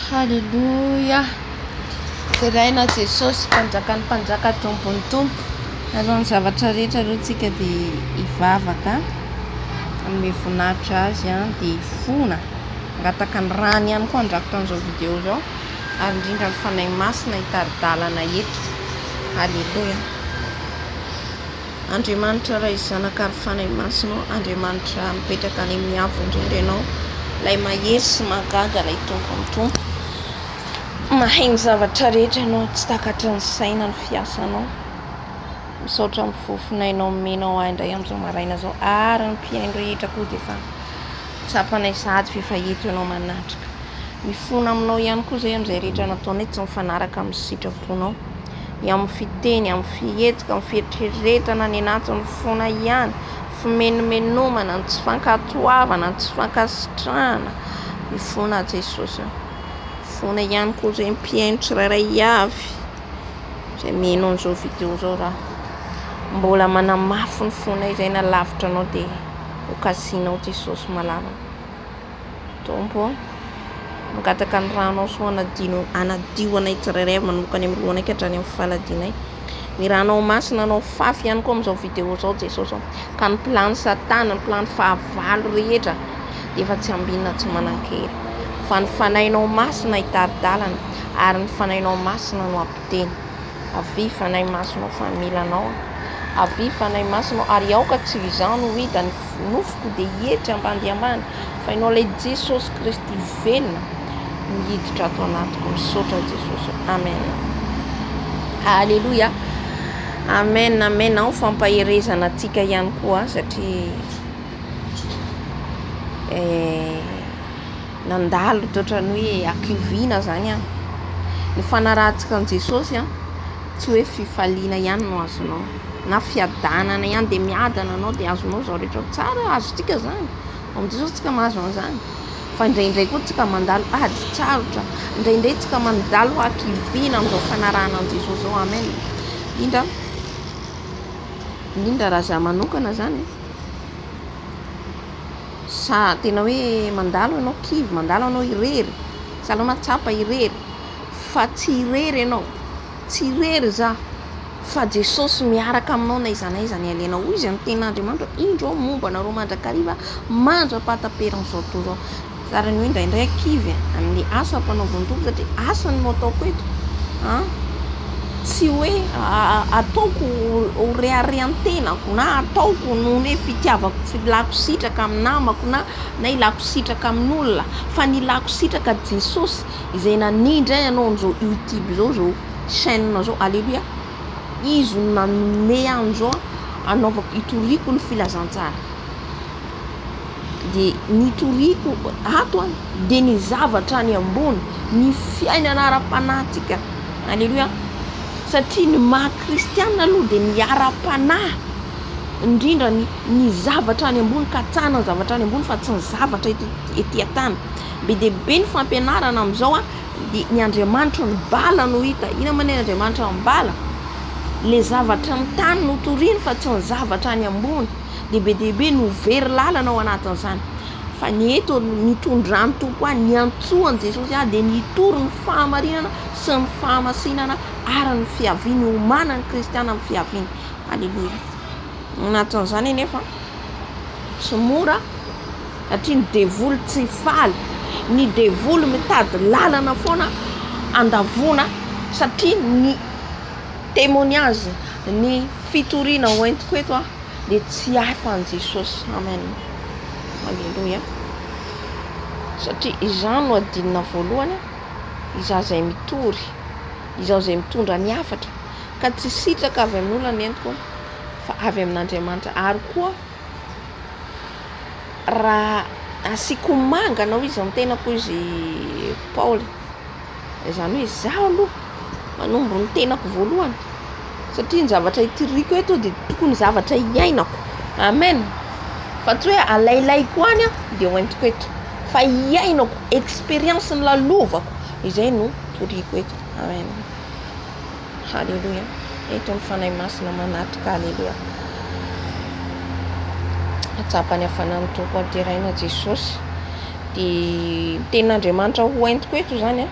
Haleloia! Deraina Jesosy mpanjakan'ny mpanjaka Tompon'ny Tompo. Alohan'ny zavatra rehetra aloha tsika dia hivavaka hanome voninahitra azy an dia hifona hangataka ny rany ihany koa handrakotra an'izao video izao ary indrindra ny fanahy masina hitari-dalana eto. Haleloia! Andriamanitra Ray Zanaka ary Fanahy Masina ô Andriamanitra mipetraka any amin'ny avo indrindra ianao ilay mahery sy mahagaga ilay Tompon'ny Tompo mahay ny zavatra rehetra ianao tsy takatry ny saina ny fiasanao misaotra amin'ny fofonainao omenao ahy indray amin'izao maraina izao ary ny mpihaino rehetra koa dia efa tsapanay sahady fa efa eto ianao manatrika mifona aminao ihany koa izay amin'izay rehetra nataonay tsy mifanaraka amin'ny sitraponao ny amin'ny fiteny, amin'ny fihetsika, amin'ny fieritreretana, ny anatiny fona ihany, fimenomenomana, ny tsy fankatoavana, ny tsy fankasitrahana ny fona Jesosy. Fona ihany koa izay mpihaino tsirairay avy izay miheno an'izao video izao raha mbola manamafy ny fona izay na lavitra anao dia ho kasinao Jesosy malala. Tompo ô! Mangataka ny ranao soa hanadino hanadio anay tsirairay avy manomboka any amin'ny lohanay ka hatrany amin'ny faladianay. Ny ranao masina anao fafy ihany koa amin'izao vidéo izao Jesosy ô! Ka ny plan'ny satana, ny plan'ny fahavalo rehetra dia efa tsy ambinina tsy manan-kery. Fa ny fanahinao masina hitari-dalana ary ny fanahinao masina no hampiteny. Avia fanahy masina ô fa mila anao aho. Avia fanahy masina ô ary aoka tsy ho izaho no hita ny. Nofoko dia hietry ambany dia ambany fa ianao ilay Jesosy Kristy velona no hiditra ato anatiko misaotra Jesosy Amen Aleloia Amen Amen ao fampaherezana antsika ihany koa satria eh, nandalo toatra ny hoe akioviana zany an ny fanarahantsika an'i Jesosy an tsy hoe fifaliana ihany no azonao na fiadanana ihany dia miadana anao dia azonao izao rehetra izao, tsara eo azontsika izany, vao amin'izay izao tsika mahazo an'izany fa indraindray koa tsika mandalo ady tsarotra, indraindray tsika mandalo hakiviana amin'izao fanarahana an'i Jesosy izao, amen, indrindra indrindra raha zah manokana izany sa tena hoe mandalo ianao kivy, mandalo ianao irery, sa aleo mahatsapa irery fa tsy irery ianao. Tsy irery izaho, fa Jesosy miaraka aminao na aiza na aiza ny alehanao. Hoy izany tenin' Andriamanitra, Indro aho momba anareo mandrakariva mandra-pahataperan' izao tontolo izao. Tsara ny hoe indraindray ankivy amin' ny asa ampanaovan' ny Tompo, satria asany no ataoko eto. Tsy hoe ataoko ho reharehan-tenako, na ataoko noho ny hoe fitiavako, tsy hilako sitraka amin'ny namako na hilako sitraka amin' olona, fa ny hilako sitraka Jesosy, Izay nania indray hanao an'izao YouTube izao, izao chaîne izao, Aleloia. Izy no nanome ahy an'izao hanaovako, hitoriako ny filazantsara. Dia nitoriako ato aho, dia ny zavatra any ambony, ny fiainana ara-panahintsika. Aleloia. Satria ny maha kristiana aloha dia ny ara-panahy, indrindra ny zavatra any ambony, katsahina ny zavatra any ambony fa tsy ny zavatra ety an-tany. be dia be ny fampianarana amin'izao a dia ny andriamanitro ny bala no hita inona moa ny andriamanitra ny bala le zavatra ny tany no toriny fa tsy ny zavatra any ambony dia be dia be no very lalana ao anatin'izany fa ny eto ny tondran'ny tompo ahy ny antsoany jesosy ahy dia ny hitory ny fahamarinana sy ny fahamasinana ary ny fiaviany homana ny kristiana amin'ny fiaviany aleloia anatin'izany anefa tsy mora Satria ny devoly tsy faly, ny devoly mitady lalana foana andavoana satria ny temoignage, ny fitoriana hoentiko eto dia tsy hay fa an'i Jesosy. Amen, aleloia, satria izaho no adinona voalohany, izaho izay mitory, izaho izay mitondra ny hafatra ka tsy sitraka avy amin'olona ny entiko fa avy amin'Andriamanitra ary koa. Raha asiako ho manga anao izy amin'ny tenako hoy izy Paoly, izany hoe izaho aloha manombo ny tenako voalohany satria ny zavatra itiriko eto dia tokony zavatra iainako amen fa tsy hoe alailaiko any aho dia ho entiko eto fa iainako experience ny lalovako izay no toriako eto amen. Haleloia! Eto ny Fanahy Masina manatitra Haleloia! Hatsapa ny hafanan'ny Tompo an-teraina Jesosy. Dia ny tenin'Andriamanitra ho entiko eto izany an.